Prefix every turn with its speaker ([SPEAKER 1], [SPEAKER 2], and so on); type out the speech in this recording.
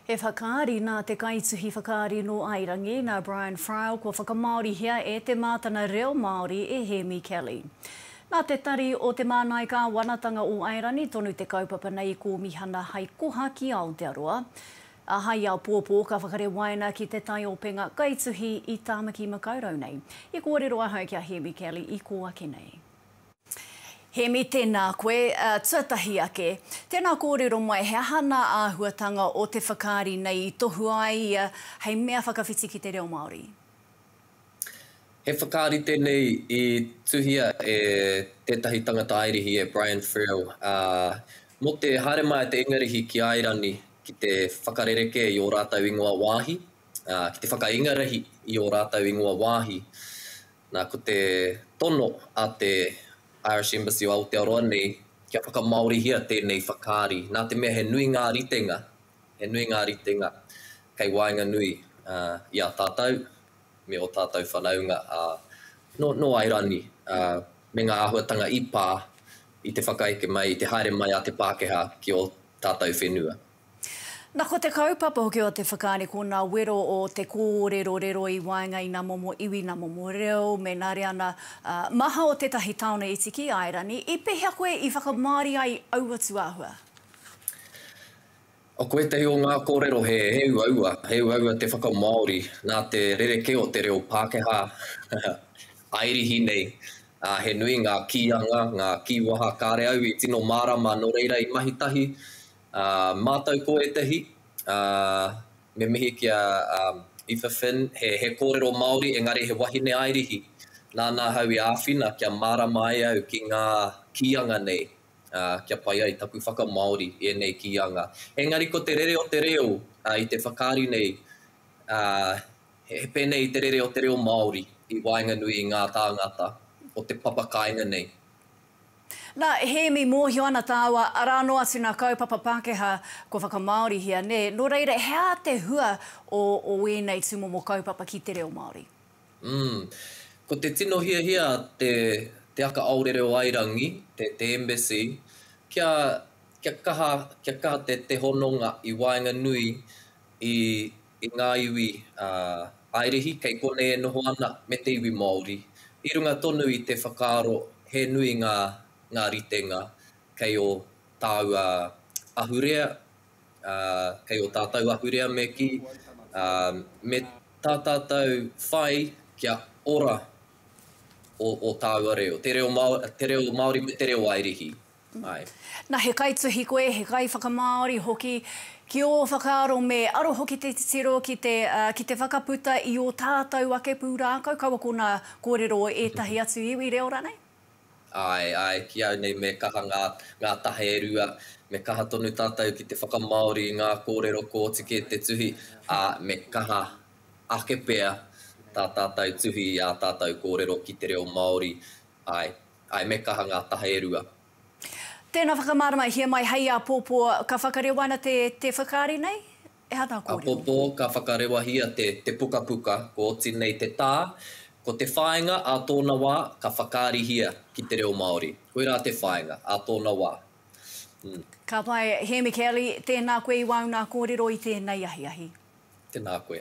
[SPEAKER 1] He whakaari nā te kaituhi whakaari nō Airangi, nā Brian Friel kua whakamāorihia e Te Mātana Reo Māori e Hēmi Kelly. Nā te Tari o Te Māngai Kāwanatanga o Airani tonu te kaupapa nei i kōmihana hai koha ki Aotearoa, ā, hai āpōpō ka whakarewaina ki te taiopenga kaituhi i Tāmaki Makaurau nei. I kōrero ahau ki a Hēmi Kelly i kō ake nei. Hēmi, Tēnā koe. Tuatahi ake, tēnā kōrero mai he aha nā āhuatanga o te whakaari nei i tohua ai ia hei mea whakawhiti ki te reo Māori?
[SPEAKER 2] He whakaari tēnei i tuhia e tētahi tangata Airihi e Brian Friel, ā, mō te haere mai a te Ingarihi ki Airani ki te whakarerekē i ō rātou ingoa wāhi, ā, ki te whakaingarihi i ō rātou ingoa wāhi. Nā, ko te tono a te Irish Embassy o Aotearoa nei, kia whakamāorihia tēnei whakaari, nā te mea he nui ngā ritenga, he nui ngā ritenga kei waenganui i a tātou me ō tātou whanaunga nō Airani, me ngā āhuatanga i pā i te whakaeke mai, i te haere mai a te Pākehā ki ō tātou whenua. Na ko
[SPEAKER 1] te kaupapa hoki o te whakaari ko na wero o te korero rero i waenga i na momo iwi, na momo reo, me na reana maha o tetahi taone iti ki Aerani. I pehea koe i whakamaori ai aua tuahua?
[SPEAKER 2] Ko etahi o nga korero he uaua, he uaua te whakamaori na te rereke o te reo Pakeha Airihi nei. He nui nga kianga, nga kiwaha kare au i tino marama no reira i mahi tahi A matou ko etahi, a, me mihi ki a Aoife Finn, he, he korero Maori engari he wahine airihi. Nana ahau i awhina kia marama ai au ki nga kianga nei, a, kia pai ai taku whakamaori i enei kianga. Engari ko te rere o te reo, a, i te whakaari nei, a, he, he penei te rere o te reo Maori i waenganui i nga tangata o te papa kainga nei.
[SPEAKER 1] Nā, Hēmi, mōhio ana tāua, arā noa atu nā kaupapa Pākehā kua whakamāorihia, nē, nō reira, he aha te hua o, o ēnei tūmomo kaupapa ki te reo Māori? Umm.
[SPEAKER 2] Ko te tino hiahia a te, Te Aka Aore Reo Airangi, te, te Embassy, kia, kia kaha, kia kaha te, te hononga i waenganui i, i ngā iwi Airihi kei konei e noho ana me te iwi Māori, i runga tonu i te whakaaro he nui ngā ritenga kei ō tāua ahurea, kei ō tātou ahurea me kī, me tā tātou whai kia ora ō tāua reo, te reo Māori me te reo Airihi. mai. Na,
[SPEAKER 1] he kaituhi koe, he kaiwhakamāori hoki, ki ō whakaaro me aro hoki te titiro ki te, ki te whakaputa i ō tātou ake pūrākau, kaua ko ngā kōrero o ētahi atu iwi reo rānei? Āe, āe,
[SPEAKER 2] ki au nei me kaha ngā, ngā taha e rua, me kaha tonu tātou ki te whakamāori i ngā kōrero kua oti kē te tuhi, ā, me kaha ake pea tā tātou tuhi i ā tātou kōrero ki te reo Māori, āe. Ae me kaha nga taha e rua. Tēnā
[SPEAKER 1] whakamaramahia mai hei āpōpō ka whakarewaina te te whakaari nei? E ana kōrero. Āpōpō ka
[SPEAKER 2] whakarewahia te te pukapuka kua oti nei te tā, ko te whāinga ā tōna wā ka whakaarihia ki te reo Māori. Koirā te whāinga, ā tōna wā. Hm.
[SPEAKER 1] Ka pai, Hēmi
[SPEAKER 2] Kelly,
[SPEAKER 1] tēnā koe i wāu nā kōrero i tēnei ahiahi. Tēnā koe.